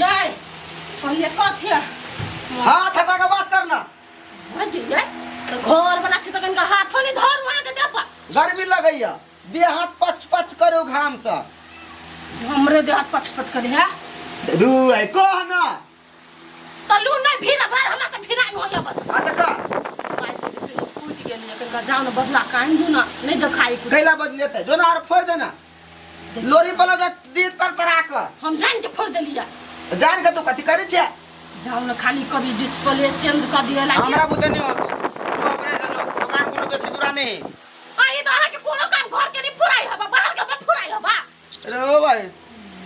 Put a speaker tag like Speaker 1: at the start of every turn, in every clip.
Speaker 1: ये पहले कस है हाथ हटा
Speaker 2: के बात करना हां जी ये
Speaker 1: तो घर बना छी तखन का हाथ होनी धर वहां के देपा गर्मी लगैया
Speaker 2: देह हाथ पच पच करो घाम से हमरे
Speaker 1: देह हाथ पच पच करे है दू है
Speaker 2: कह ना
Speaker 1: तलू नै फिर बार हमरा से फिराइ हो जाबत आ त का कूद गेल ने
Speaker 2: कनका
Speaker 1: जाओ ना बदला कान दू ना नै देखाई कुछ कैला बज लेते जो ना आर
Speaker 2: फोड़ देना लोरी पलो जा दी तर तरा क हम जान के फोड़
Speaker 1: देलिया जान के तू
Speaker 2: कथी करे छे जाओ ना खाली
Speaker 1: कभी डिस्प्ले चेंज कर दिया लागे हमरा बुते नहीं होतो
Speaker 2: तू अपने से जो दुकान कोनो बेसी दूरा नहीं आ ई तो अहाँ के
Speaker 1: कोनो काम घर के नहीं फुराई हबा बाहर के बट फुराई हबा अरे ओ भाई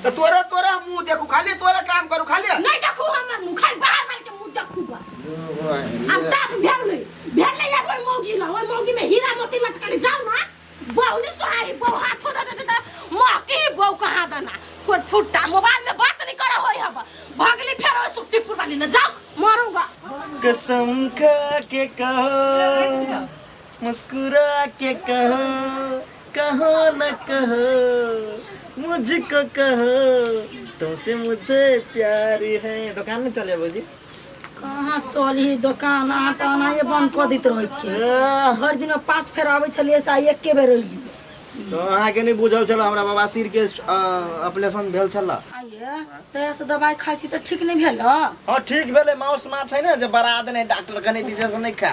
Speaker 2: तो तोरा तोरा मुंह देखू खाली तोरा काम करू खाली नहीं देखू हमर मुंह
Speaker 1: खाली बाहर बाहर के मुंह देखू बा
Speaker 2: अब तक भेल नहीं
Speaker 1: भेल नहीं अब ओइ मौगी ला ओइ मौगी में हीरा मोती मत करे जाओ ना बहु नहीं सोहाई बहु हाथ हो दे दे मौकी बहु कहाँ देना कोई फुट्टा मोबाइल में बात नहीं करा होई हब भगली फेर ओइ सुक्तिपुर वाली ना जाओ मरूंगा कसम
Speaker 2: खा के कहो मुस्कुरा के कहो कहो न कहो मुझको कहो तुमसे मुझे प्यार है दुकान में चले बाबूजी कहाँ
Speaker 1: चली दोकान अहाँ तऽ एनाहिए बन्द कऽ दैत रहै छियै आह, भरि दिनमे पाँच फेर आबै छलियै से आइ एके बेर अयली तो अहाँके
Speaker 2: नहि बुझल छल हमरा बाबा सिर के ऑपरेशन भेल छल आइए तहियासँ
Speaker 1: दबाइ खाइ छी तऽ ठीक नहि भेल हँ ठीक भेलै
Speaker 2: माउस माछ है ने जे बड़ा देने डॉक्टर कने विशेष नहि खा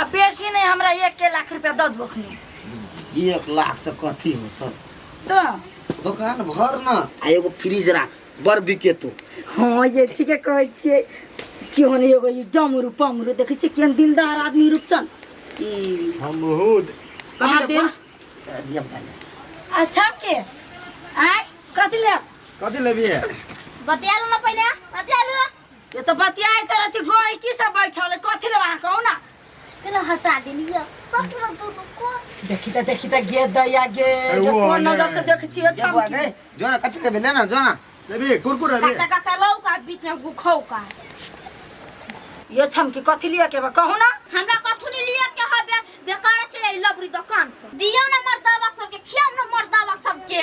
Speaker 2: आ बेसी
Speaker 1: नहीं हमरा एक के लाख रुपया दद बखनी एक लाख से
Speaker 2: कथी हो सर तो
Speaker 1: दुकान भर
Speaker 2: ना आ एगो फ्रिज राख बड़ बिके तू हाँ ये ठीक
Speaker 1: है कहै छियै कि होने एगो ई डमरू पमरू देखै छियै केहन दिलदार आदमी रूपचन हम
Speaker 2: बहुत कहाँ दे
Speaker 1: दिया बता
Speaker 2: दे। अच्छा के
Speaker 1: आय कथी ले कथी लेबी है
Speaker 2: बतिया लो ना
Speaker 1: पहिने बतिया लो ये तो बतियाई तरह से गोई की सब बैठल कथि ले वहां कहू ना केना हटा देलिए सच में तू तो को देखी त देखी त गे दैया गे अरे जे वो कोन वाला। नजर से देखै छियै जब छम आगे जो ना कथी लेबे ले
Speaker 2: ना जो ना लेबे कुरकुरा ले काटा काटा लौ का बीच
Speaker 1: में गुखौ का ये छम की कथि लिए के बा कहू ना हमरा कथु नहीं लिए
Speaker 3: के हबे बेकार चले लबरी दुकान पर दियो ना मर्दावा सबके खिया ना मर्दावा सबके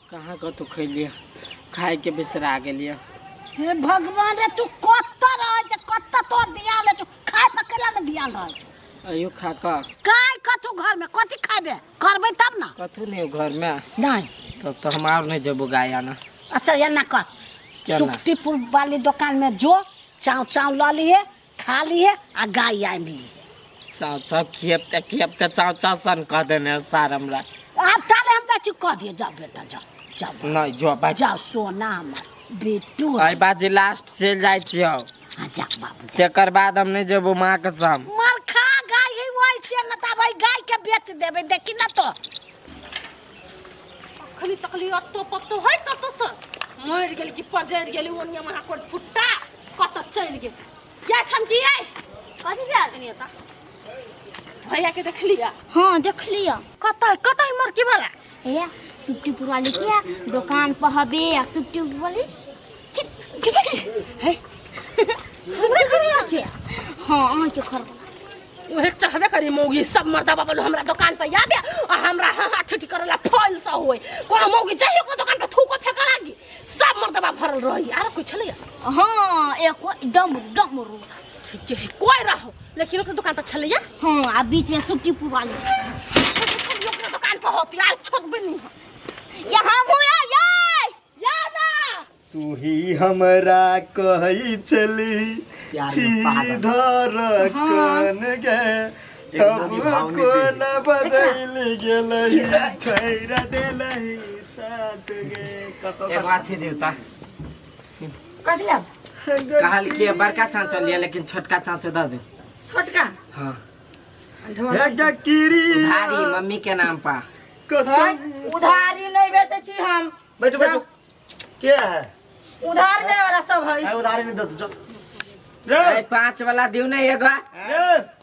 Speaker 4: कहाँ कतहु खैलियै खायके बिसरा गेलियै हे भगवान
Speaker 1: रे तू कत रहै छै कत तो दिया ले छौ खाय पकला ने दिया रहै छौ अयो खा कऽ
Speaker 4: काय कथु घर
Speaker 1: में कथि खाबे करबै तब ना कथू नहि घरमे
Speaker 4: नहीं तब तऽ
Speaker 1: हम आब
Speaker 4: नहि जेबो गाय आना अच्छा एना कर
Speaker 1: केना? सुक्तिपुर वाली दुकान में जो चाव चाव लऽ लिए खा ली है आ गाय आय मिली चाव चाव
Speaker 4: खियबते खियबते चाव चाव सन कह देने सार हमरा अब तारे हम
Speaker 1: चाची कह दिए जाओ बेटा जाओ जाओ बेटा, नहीं जो बाजी जाओ
Speaker 4: सोना हमार
Speaker 1: बेटू आई बाजी लास्ट
Speaker 4: चल जाय छियो हाँ जा बाबू जा
Speaker 1: तेकर बाद हम नहीं जेबो
Speaker 4: माँ के संग मार खा गाय
Speaker 1: है वही से न तब है गाय के बेच देबे देखी ना तो अखनी तकली अत्तो पत्तो है कतो से मर गेल कि पजर गेल ओनिया महा कोट फुट्टा कत चलि गेल या छमकियै
Speaker 3: कथी
Speaker 1: भेल कनी एता भैया के देखलिया
Speaker 3: हाँ देख लिया कत कत मरकी
Speaker 1: वाला भैया सुट्टी
Speaker 3: पुरवा ले किया दुकान पर हबे आ सुट्टी पुरवा ले
Speaker 1: है हमरा कनी आके हाँ अहाँ के
Speaker 3: घर उहे
Speaker 1: चाहबे करी मौगी सब मर्दा बाबा लो हमरा दुकान पर याद है आ हमरा हाँ हाँ ठिठी करला फल सा होए कोनो मौगी जाइए ओकरा दुकान पर थूको फेंका लागी सब मर्दबा भरल रही आर कोई छले हाँ एक
Speaker 3: डम डम रू ठीक है
Speaker 1: कोई रहो लेकिन ओकर दुकान पर छले हाँ आ बीच में
Speaker 3: सुट्टी पुवाली ओकर
Speaker 1: दुकान पर होती आज छोट बनी यहाँ हूँ या
Speaker 3: या या ना
Speaker 1: तू ही
Speaker 2: हमरा कहै छली यार, ये पागल। सीधा रखन गे तब कोन बदल गेलही छोड़ देलही साथ गे कतो एक बात ही देवता
Speaker 1: कथी लेब
Speaker 4: कहल कि बड़का चाँचो लिया लेकिन छोटका चाँचो दे दे
Speaker 1: छोटका
Speaker 4: हाँ
Speaker 2: ढोल हे किरी भारी मम्मी
Speaker 4: के नाम पा है, कसम
Speaker 2: उधारी नहीं
Speaker 1: बेचे छी हम बैठो बैठो के है
Speaker 2: उधार दे
Speaker 1: वाला सब है ए, उधारी
Speaker 2: नहीं दे तू चल ए, ए,
Speaker 4: पाँच वाला दियो ना एगो ए,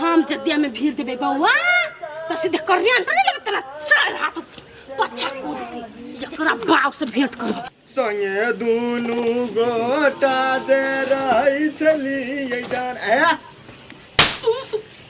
Speaker 1: हम जदिया में भीड़ देबे बौआ त सीधे करिया अंतर नहीं लेबे तेरा चार हाथ पछा कूदती एकरा बाप से भेंट करब संगे
Speaker 2: दुनु गोटा जे रहै छलियै जान ए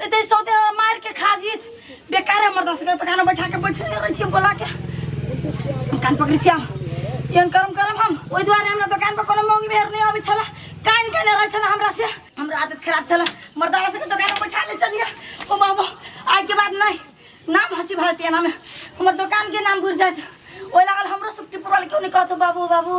Speaker 1: ते ते सौ दिन मार के खा जीत बेकार हमर दस के कान बैठा के बैठे रहे छी बोला के कान पकड़ छी हम एहन करम करम हम ओहि दुआरे हमरा दुकान पर कोनो मौगी मेहर नहीं आबै छला कान केने रहे छला हमरा से हमरा आदत खराब छला मर्दावा से के दुकान पर बैठा ले चलिए ओ बाबा आइ के बाद नहीं नाम हंसी भारती नाम हमर दुकान के नाम घुर जात ओहि लागल हमरो सुक्ति पुरवाल क्यों नहीं कहतो बाबू बाबू